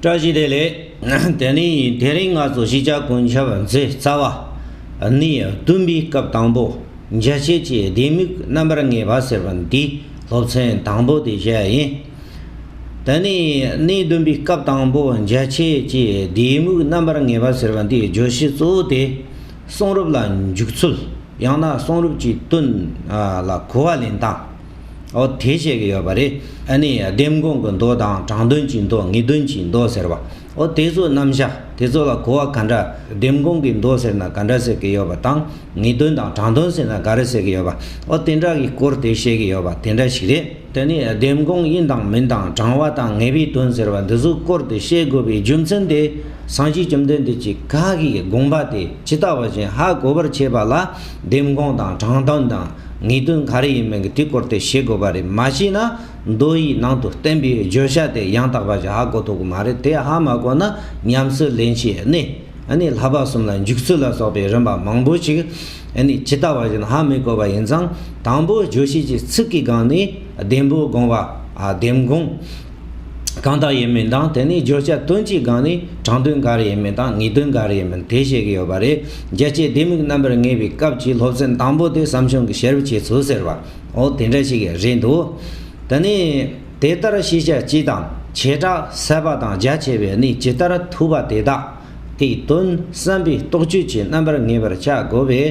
བཀྲ་ཤིས་བདེ་ལེགས། དེ་ནི་དེ་རིང་ང་ཚོ་གཞིས་ཆགས་དགུན་ཆར་མཛད་རྩ་བ། ནི་བསྟུན་པའི་སྐབས་དང་པོ་འཇལ་བྱེད་ཀྱི་ལྡེ་མིག་རྣམ་པར་ངེས་པ་ཟེར་བ་འདི་སློབ་ཚན་དང་པོ་དེ་བཞི་ཡིན། དེ་ནི་གནས་བསྡུམ་པའི་སྐབས་དང་པོ་འཇལ་བྱེད་ཀྱི་ལྡེ་མིག་རྣམ་པར་ངེས་པ་ཟེར་བ་འདིའི་བརྗོད་གཞི་གཙོ་བོ་དེ་གསུང་རབ་ལ་འཇུག་ཚུལ་ཡང་ན་གསུང་རབ་ཀྱི་དོན་ལ་གོ་བ་ལེན་སྟངས། ཨོ་དེ་བཤད་གི་ཡོད་པ་རེད། ཨ་ནི་ལྡེམ་གོང་གི་མདོ་དང་དྲང་དོན་གྱི་མདོ་ངེས་དོན་གྱི་མདོ་ཟེར་བ། ཨོ་དེ་ཚོ་རྣམ་གཞག་དེ་ཚོ་ལ་གོ་བ་ག་འདྲ། ལྡེམ་གོང་གི་མདོ་ཟེར་ན་ག་འདྲ་ཟེར་གི་ཡོད་པ་དང་ངེས་དོན་དང་དྲང་དོན་ཟེར་ན་ག་རེ་ཟེར་གི་ཡོད་པ། ཨོ་དེ་འདྲ་གི་སྐོར་དེ་བཤད་གི་ཡོད་པ་དེ་འདྲ་ཞིག་རེད། དེ་ནི་ལྡེམ་གོང་ཡིན་དང་མིན་དང་དྲང་བ་དང་ངེས་པའི་དོན་ཟེར་བ་འདི་ཚོ་སྐོར་དེ་བཤད་དགོས་པའི་རྒྱུ་མཚན་དེ་སངས་རྒྱས་བཅོམ་ལྡན་འདས་ཀྱི་བཀའ་གི་དགོངས་པ་དེ་ཇི་ལྟ་བ་བཞིན་ཧ་གོ་བར་བྱེད་པ་ལ། འདེམས་དགོངས་དང་དྲང་བདེན་དང་ངེས་དོན་ག་རེ་ཡིན་མིན་གྱི་དུས་སྐོར་དེ་ཤེས་དགོས་པ་རེད་མ་ཤེས་ན་མདོ་ཡི་ནང་དུ་བསྟན་པའི་བརྗོད་བྱ་དེ་ཡང་དག་པ་ཞིག་ཧ་གོ་ཐུབ་ཀྱི་མ་རེད་དེ་ཧ་མ་གོ་ན་ཉམས་སུ་ལེན་ཆེད་ནི་ནི་ལྷ་བབས་གསུམ་ལ་འཇུག་ཚུལ་ལ་སོགས་པའི་རིམ་པ་མང་པོ་ཞིག་ནི་ཇི་ལྟ་བ་བཞིན་ཧ་མི་གོ་བ་ཡིན་ཙང་དང་པོ་བརྗོད་བྱེད་ཀྱི་ཚིག་གི་སྒང་ནས་བདེན་པོ་དགོངས་པ་འདེམས་དགོངས་གང་དག་ཡིན་མིན་དང་དེ་ནས་བརྗོད་བྱ་དོན་གྱི་སྒང་ནས་དྲང་དོན་ག་རེ་ཡིན་མིན་དང་ངེས་དོན་ག་རེ་ཡིན་མིན་དེ་བཤད་གི་ཡོད་པ་རེད་རྒྱལ་སྤྱིའི་ལྡེ་མིག་རྣམ་པར་ངེས་པའི་སྐབས་ཀྱི་སློབ་ཚན་དང་པོ་དེ་བསམ་བྱུང་གི་ཤེར་བྱེད་ཚུལ་ཟེར་བ་འོ་དེ་འདྲ་ཞིག་རེད་འདུག་དེ་ནས་དེ་ལྟར་ཤེས་བྱ་སྤྱི་དང་བྱེ་བྲག་གསལ་བ་དང་རྒྱ་ཆེ་བའི་གནས་ཇི་ལྟར་ཐུབ་པ་དེ་དག། དེའི་དོན་བསམ་པའི་རྟོག་དཔྱོད་ཀྱི་རྣམ་པར་ངེས་པར་བྱ་དགོས་པས་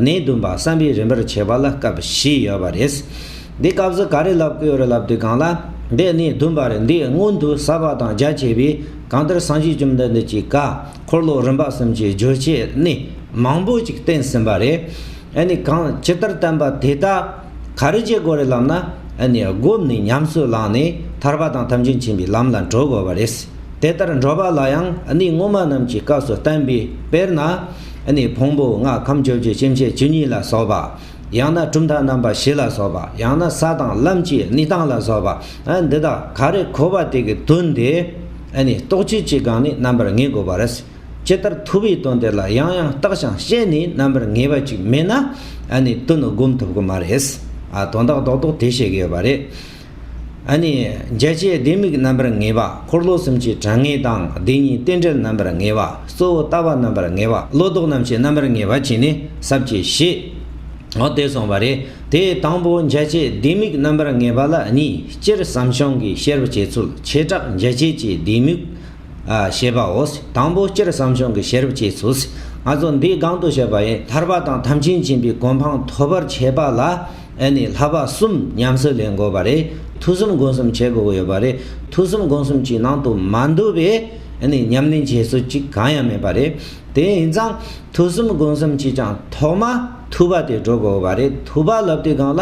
གནས་བདུན་པ་བསམ་པའི་རིམ་པར་བྱེད་པ་ལ་སྐབས་བཞི་ཡོད་པ་རེད། འདི་སྐབས་སུ་ག་རེ་ལབ་དགོས་རེ་ལབ་དུས་གང་ལ། འདི་གནས་བདུན་པར་འདི་སྔོན་དུ་ཟབ་པ་དང་རྒྱ་ཆེ་བས་གང་ལྟར་སངས་རྒྱས་བཅོམ་ལྡན་འདས་ཀྱིས་བཀའ་འཁོར་ལོ་རིམ་པ་གསུམ་གྱི་བསྒྱུར་བྱའི་གནས་མང་པོ་ཅིག་བསྟན་ཟིན་པ་རེད། ཨ་ནི་གང་ཇི་ལྟར་བསྟན་པ་དེ་ལྟར། ག་རེ་བྱེད་དགོས་རེད་ལབ་ན་ཨ་ནི་སྒོམ་ནས་ཉམས་སུ་བླངས་ནས་ཐར་པ་དང་ཐམས་ཅད་མཁྱེན་པའི་ལམ་ལ་འགྲོ་དགོས་པ་རེད། དེ་ལྟར་འགྲོ་བ་ལ་ཡང་ཨ་ནི་སྔོན་མ་རྣམས་ཀྱི་སྐབས་སུ་བསྟན་པའི་དཔེར་ན། ཨ་ནི་ཕུང་པོ་ལྔ་ཁམས་བཅོ་བརྒྱད་སྐྱེ་མཆེད་བཅུ་གཉིས་ལ་སོགས་པ། ཡང་ན་གྲུབ་མཐའ་རྣམ་པ་བཞི་ལ་སོགས་པ་ཡང་ན་ས་དང་ལམ་གྱི་གནས་སྟངས་ལ་སོགས་པ་ཨ་འདི་དག་ག་རེ་གོ་བ་དེ་གའི་དོན་དེ་ཨ་ནི་རྟོགས་བྱེད་ཀྱི་སྒང་ནས་རྣམ་པར་ངེས་དགོས་པ་རེད། ཇི་ལྟར་ཐུབ་བའི་དོན་དེ་ལ་ཡང་ཡང་བརྟག་ཞིང་དཔྱད་ནས་རྣམ་པར་ངེས་པ་ཅིག་མེད་ན་ཨ་ནི་དོན་ནི་སྒོམ་ཐུབ་ཀྱི་མ་རེད། དོན་དག་རྡོག་རྡོག་དེ་བཤད་ཀྱི་ཡོད་པ་རེད། ཨ་ནི། འཇལ་བྱའི་ལྡེ་མིག་རྣམ་པར་ངེས་པ་འཁོར་ལོ་གསུམ་གྱི་གྲངས་ངེས་དང་བདེན་གཉིས་རྟེན་འབྲེལ་རྣམ་པར་ངེས་པ་གཙོ་བོ་ལྟ་བ་རྣམ་པར་ངེས་པ་བློ་ལྡོག་རྣམ་ཤེས་རྣམ་པར་ངེས་པ་གྱིས་ནི་ཟབ་ཅེས་བཞེད། འོ་དེ་སོང་བ་རེད་དེ་དང་པོ་འཇལ་བྱའི་ལྡེ་མིག་རྣམ་པར་ངེས་པ་ལ་གཉིས་སྤྱིར་བསམ་བྱུང་གི་བཤེར་བྱེད་ཚུལ་བྱེ་བྲག་འཇལ་བྱེད་ཀྱི་ལྡེ་མིག་ཞེས་པའོ། དང་པོ་སྤྱིར་བསམ་བྱུང་གི་ཤེས་རབ་ཅེས་ཚུལ་སྔ་སོར་འདིའི་སྒང་དུ་བཤད་པ་ཡི་ཐར་པ་དང་ཐམས་ཅད་མཁྱེན་པའི་གོ་འཕང་ཐོབ་པར་བྱེད་པ་ལ་ཨེ་ནས་ལྷག་པ་གསུམ་ཉམས་སུ་ལེན་དགོས་པ་རེད་ཐུགས་གསུམ་སྒོམ་གསུམ་བྱེད་དགོས་ཡོད་པ་རེད་ཐུགས་གསུམ་སྒོམ་གསུམ་གྱི་ནང་དུ་མ་འདུས་པའི་ཨེ་ནས་ཉམས་ལེན་བྱེད་ཚུལ་གཅིག་གང་ཡང་མེད་པ་རེད། དེ་ཡིན་ཙང་ཐུགས་གསུམ་སྒོམ་གསུམ་གྱིས་ཀྱང་ཐོག་མ། ཐུབ་པ་དེ་སྒྲོ་གོ་བ་རེད་ཐུབ་པ་ལབ་དུས་གང་ལ།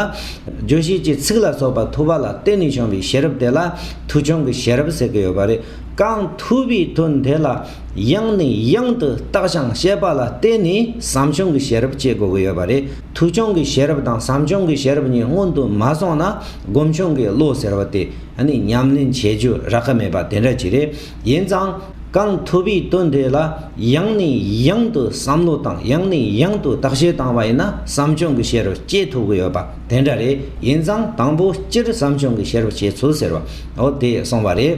བརྗོད་གཞི་ཀྱི་ཚིག་ལ་སོགས་པ་ཐུབ་པ་ལ་བརྟེན་ནས་བྱུང་བའི་ཤེས་རབ་དེ་ལ་ཐུགས་སྦྱོང་གི་ཤེས་རབ་ཟེར་གྱི་ཡོད་པ་རེད། གང་ཐུབ་པའི་དོན་དེ་ལ་ཡང་ནས་ཡང་དུ་བརྟགས་ཤིང་དཔྱད་པ་ལ་བརྟེན་ནས་བསམ་བྱུང་གི་ཤེས་རབ་སྐྱེ་དགོས་ཀྱི་ཡོད་པ་རེད། ཐུགས་སྦྱོང་གི་ཤེས་རབ་དང་བསམ་བྱུང་གི་ཤེས་རབ་གཉིས་སྔོན་དུ་མ་སོང་ན་སྒོམ་བྱུང་གི་བློ་ཟེར་བ་དེ་ནི་ཉམས་ལེན་བྱེད་རྒྱུ་རག་གི་མེད་པ་དེ་འདྲ་ཅིག་རེད། ཡིན་ཙང། གང་ཐུབ་པའི་དོན་དེ་ལ་ཡང་ནས་ཡང་དུ་བསམ་བློ་དང་ཡང་ནས་ཡང་དུ་བརྟག་དཔྱད་བཏང་བ་ཡིན་ན་བསམ་བྱུང་གི་བྱེད་རོལ་སྐྱེ་ཐུབ་ཀྱི་ཡོད་པ་དེ་འདྲ་རེད་ཡིན་ཙང་དང་པོ་སྤྱིར་བསམ་བྱུང་གི་བྱེད་རོལ་སྐྱེ་ཚུལ་ཟེར་བ་འོ་དེ་སོང་བ་རེད།